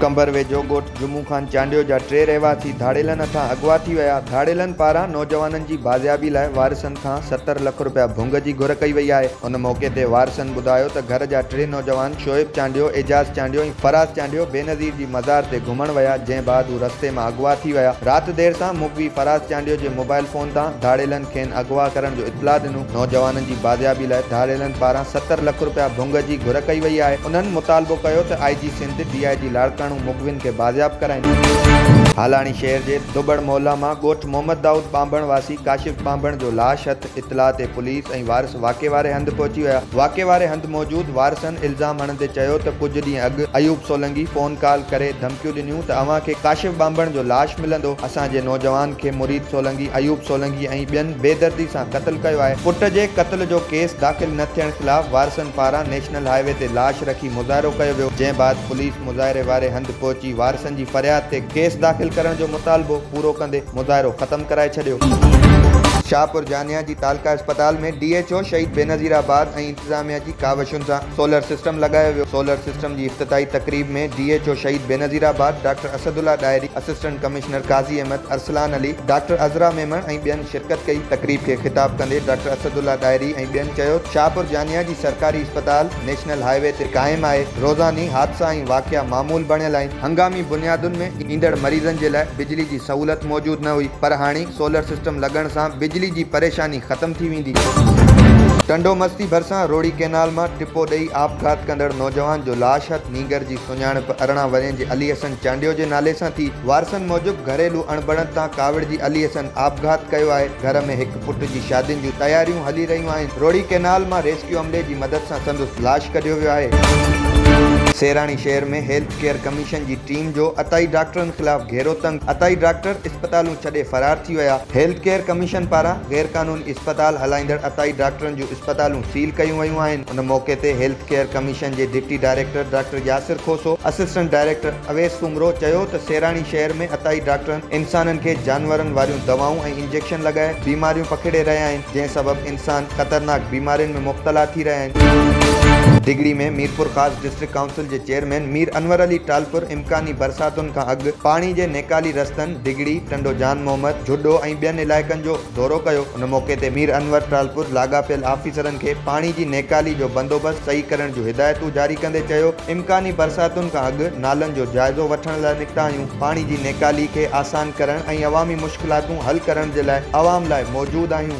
ڪنڀر ويجهو ڳوٺ جمعو خان چانڊيو جا ٽي رهواسي ڌاڙيلن هٿان اغوا ٿي ويا، ڌاڙيلن پاران نوجوانن جي بازيابي لاء وارثن کان ستر لک رپيا ڀونگ جي گهر ڪئي وئي آهي، ان موقعي تي وارثن ٻڌايو ته گهر جا ٽي نوجوان شعيب چانڊيو، اعجاز چانڊيو ۽ فراز چانڊيو بينظير جي مزار تي گهمڻ ويا، جنهن بعد هو رستي مان اغوا ٿي ويا. رات دير تان مغوي فراز چانڊيو جي موبائل فون تان ڌاڙيلن کين اغوا ڪرڻ جو اطلاع ڏنو. نوجوانن جي بازيابي لاء ڌاڙيلن پاران ستر لک رپيا ڀونگ جي گهر ڪئي وئي آهي. انهن مطالبو ڪيو ته آء جي سنڌ، ڊي آء جي لاڙڪاڻو مغوين کي بازياب ڪرائين. هالاڻي شهر جي دٻڙ محله مان ڳوٺ محمد دائود ٻانڀڻ واسي ڪاشف ٻانڀڻ جو لاش هٿ اطلاع تي پوليس ۽ وارث واقعي واري هنڌ پهچي ويا. واقعي واري هنڌ موجود وارثن الزام هڻندي چيو ته ڪجهه ڏينهن اڳ ايوب سولنگي فون ڪال ڪري ڌمڪيون ڏنيون ته اوهان کي ڪاشف ٻانڀڻ جو لاش ملندو، اسان جي نوجوان کي مريد سولنگي ايوب سولنگي ۽ ٻين بي دردي سان قتل ڪيو آهي. پٽ جي قتل جو ڪيس داخل نه ٿيڻ خلاف وارثن پاران نيشنل هاء وي تي لاش رکي مظاهرو ڪيو ويو جنهن بعد پوليس. مظاهري واري هنڌ پهچي وارثن جي فرياد تي ڪيس داخل ڪرڻ جو مطالبو پورو ڪندي مظاهرو ختم ڪرائي ڇڏيو. شاهپور جانيا جي تعلقه اسپتال ۾ D H O Shaheed Benazirabad ۽ انتظاميا جي ڪاوشن سان سولر سسٽم لڳايو ويو، سولر سسٽم جي افتتاحي تقريب ۾ D H O Shaheed Benazirabad, doctor Asadullah Dahri, assistant commissioner Qazi Ahmed, Arsalan Ali, doctor Azra Memon ۽ ٻين شرڪت ڪئي، تقريب کي خطاب ڪندي ڊاڪٽر اسدالله ڏاهري ۽ ٻين چيو ته شاهپور جانيا جي سرڪاري اسپتال. نيشنل هاء وي تي قائم آهي، روزاني حادثا ۽ واقعا معمول بڻيل آهن، هنگامي بنيادن ۾ ايندڙ مريضن جي لاء بجلي جي سهولت موجود نه هئي پر هاڻي سولر سسٽم لڳڻ سان بجلي جي پريشاني ختم ٿي ويندي. ٽنڊو مستي ڀرسان روهڙي ڪئنال مان ٽپو ڏئي آپگهات ڪندڙ نوجوان جو لاش هٿ نينگر جي سڃاڻپ ارڙهن ورهين جي علي حسن چانڊيو جي نالي سان ٿي، وارثن موجب گهريلو اڻبڻت تان ڪاوڙجي علي حسن آپگهات ڪيو آهي، گهر ۾ هڪ. پٽ جي شادين جون تياريون هلي رهيون آهن، روهڙي ڪئنال مان ريسڪيو عملي جي مدد سان سندس لاش ڪڍيو ويو آهي. سيراڻي شهر ۾ هيلٿ ڪيئر ڪميشن جي ٽيم جو عطائي ڊاڪٽرن خلاف گهيرو تنگ عطائي ڊاڪٽر اسپتالون ڇڏي فرار ٿي ويا، هيلٿ ڪيئر ڪميشن پاران غيرقانوني اسپتال هلائيندڙ عطائي ڊاڪٽرن جون اسپتالون سيل ڪيون ويون آهن، ان موقعي تي هيلٿ ڪيئر ڪميشن جي deputy director doctor Yasir Khoso, assistant director Awais Soomro چيو ته سيراڻي شهر ۾ عطائي ڊاڪٽرن انسانن کي جانورن واريون دوائون ۽ انجيڪشن لڳائي بيماريون پکيڙي رهيا آهن، جنهن سبب انسان خطرناڪ بيمارين ۾ مبتلا ٿي رهيا آهن. ڊگهڙي ۾ ميرپورخاص ڊسٽرڪٽ ڪائونسل جي چيئرمين مير انور علي ٽالپر امڪاني برساتن کان اڳ پاڻي جي نيڪالي رستن ڊگهڙي، ٽنڊو جان محمد، جهڏو ۽ ٻين علائقن جو دورو ڪيو. ان موقعي تي مير انور ٽالپر لاڳاپيل آفيسرن کي پاڻي جي نيڪالي جو بندوبست صحيح ڪرڻ جون هدايتون جاري ڪندي چيو، امڪاني برساتن کان اڳ نالن جو جائزو وٺڻ لاء نڪتا آهيون. پاڻي جي نيڪالي کي آسان ڪرڻ ۽ عوامي مشڪلاتون حل ڪرڻ جي لاء عوام لاء موجود آهيون.